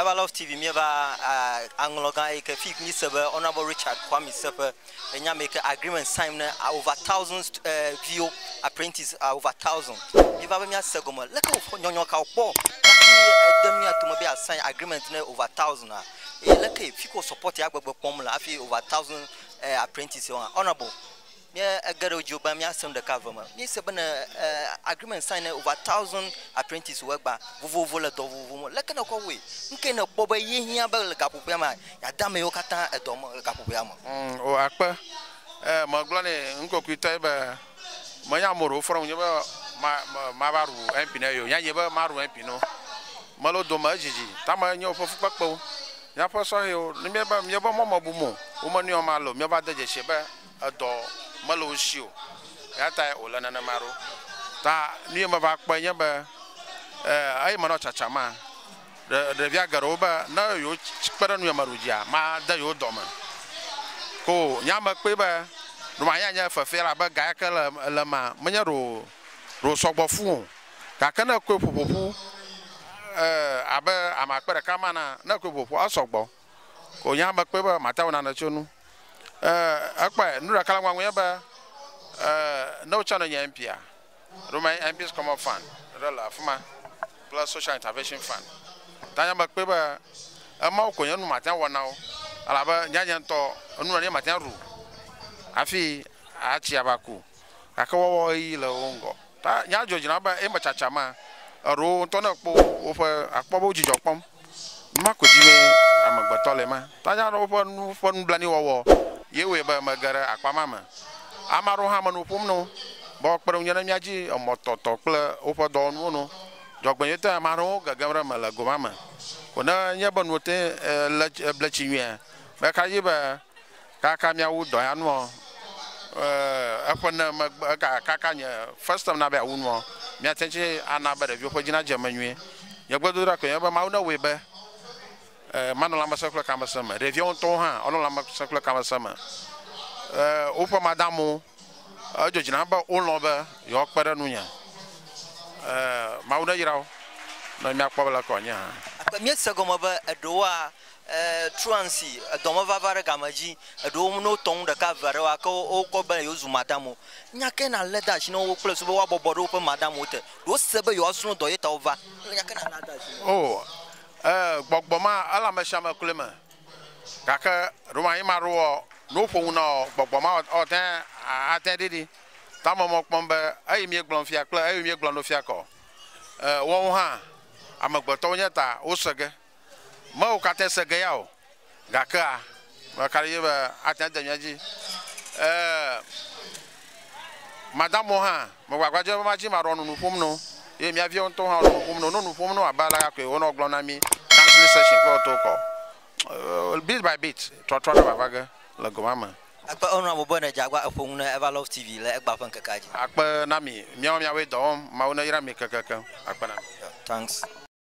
Eva Love TV míeva aŋlɔgã eyi ke fik míse be Honourable Richard Kwame Seƒe enye ame yi ke agreement sign ne over thousand eh, viwo apprentice ah, over thousand míeva be míase gɔme leke wòfɔ nyɔnyɔ ka wòkpɔ hafi ede mía tome be yeasign agreement ne over thousand a eye leke fi ke wòsupɔti agbegbe kpɔm le hafi over thousand eh, apprentice wo hã Honourable Míe ge ɖe wo dzi o be míase nu ɖeka eve me. Míese be ne agreement sign ne over thousand apprentices wo egba vovovo le dɔ vovovo me. Leke ne kɔ wɔe? Nu kae ne kpɔ be ye hiã be le gaƒoƒoea mea yeade ame yewo katã edɔ me le gaƒoƒoea me? Ŋ o akpe. E me gblɔ nɛ nukokoetɔe be me nye ame ɖe wofɔ ɖe ŋunye be ma ma va ɖu MP ne yeo. Nya nye be ma ɖu MP no. Me le wo dome edzidzi ta me nye woƒe fukpekpewo. Mía ƒe sɔhewo ne mía be mía be mɔ me bum o wo me nɔe ma le o mía va de dzesi be edɔ mele wo shi o. Eya tae wòle nenema ɖo. Ta nu ye meva kpɔe nye be, eye menɔ tsatsam ma, ɖevia geɖewo be ne yewokpe ɖe ŋunye meɖu dzia, made yewo dɔ me ko o. Nye ame kpɔe be ɖe wòanye anye fefe elabe ga ya ke le le emea, menye ɖe wò ɖe wòsɔ gbɔ fũ o. Gake ne ekɔe ƒoƒoƒu abe ame akpe ɖeka ma enea, ne ekɔe ƒoƒoƒua, esɔ gbɔ. wònya be kpɔe be mate ŋu nanɔ tso nu. Ee, ekpɔe. Nu ɖeka le ŋgɔa ŋu nye be, ee, ne wotsɔ ne nye MP-a, ɖo me MP's Common Fund ɖe le afi ma kple Social Intervention Fund. Ta nya mekpɔe be emawo ko nye nu mate ŋu awɔ na wo elabe nya nye ŋutɔ enu nenie mate ŋu aɖu hafi atsi ava ku. gake woawɔ ɣeyiɣi le wo ŋgɔ. Ta nya dzɔdzɔe na be eme tsatsa ma, eɖo wo ŋutɔ ne ekpɔ woƒe, akpɔ be wo dzidzɔ kpɔm. Numa koe dzi mee amegbetɔ le ema. Ta nya aɖewo ƒe nu ƒe nublanui wɔwɔ ye wɔe be mege ɖe akpa ma me. Ame aɖewo hã me nu ƒom na wo be woakpe ɖe ŋunye ne mía dzi emɔ tɔtɔ kple woƒe dɔwɔnuwo nu. Dzɔgbenyuitɔe ame aɖewo gegem ɖe eme le go ma me. Ko ne enye be nuwo te le bletsi nyuie, meka dzi be, Kaka miawu dɔ ya nuɔ, eƒe ne megbe ega kaka nye first time na be awu nuɔ, mia tɛn tse ana be ɖeviwo ƒe dzi na dze eme nyuie. Nye gbedoɖa koe nye be Mawu ne wɔe be manɔ lãmesẽ kple tamesẽ me, ɖeviawo ŋutɔwo hã wonɔ lãmesẽ kple tamesẽ me. Woƒe madamwo, edzo dzi nam be wolɔ̃ be yewoa kpe ɖe nunye. Mawu ne yrawò ne mia kpɔ be le ke wòanye hã. Mía se gɔme be eɖewoa. Truancy, edɔ me vava ɖe game dzi, eɖewo ne wotɔ nu ɖeka eve aɖe wa ke wo wokpɔ be yewo zu madame o. Nya ke na le de asi na wo kple susu be woa bɔbɔ ɖe woƒe madame wo te. Ɖe wo se be yewoa srɔ̃ dɔ ye ta wo va. Wole nya ke na le de asi na wo. O, e, gbɔgbɔ ma ele ame sia ame kloe me. Gake ɖo ma yi ma ɖo ɔ, ne wo ƒo nu na ɔ, gbɔgbɔ ma ɔ, ɔ tɛn a, a tɛn ɖi ɖi. Ta ame mɔ kpɔm be eyi mie gblɔm fia kple eyi mie gblɔ no fia kɔ. E, wɔwo hã, amegbetɔwo nye ta wo se ge. Mewò kate se ge ya o, gakea, me ka ɖe dzi be ate ŋu ade mía dzi. Ɛɛ, Madamwo hã, mewɔ agbagba be madzi maɖɔ nu nu ƒom na wo. Ye mía viwo ŋutɔwo hã wonɔ nu ƒom na wo. Wonɔ nu ƒom na wo abe alea koe wonɔ gblɔm na mí counseling session kple wo tɔwo kɔ. Bit by bit, trɔtrɔ aɖe va va ge le go ma me. Akpe enu ame be nèdze agbagba eƒo nu na Ever Love TV le Egbea ƒe ŋkekea dzi. Akpe na mi, míawo míawoe dɔ wɔm. Mawu neyra mi kekekeŋ. Akpe na mi. Thanks.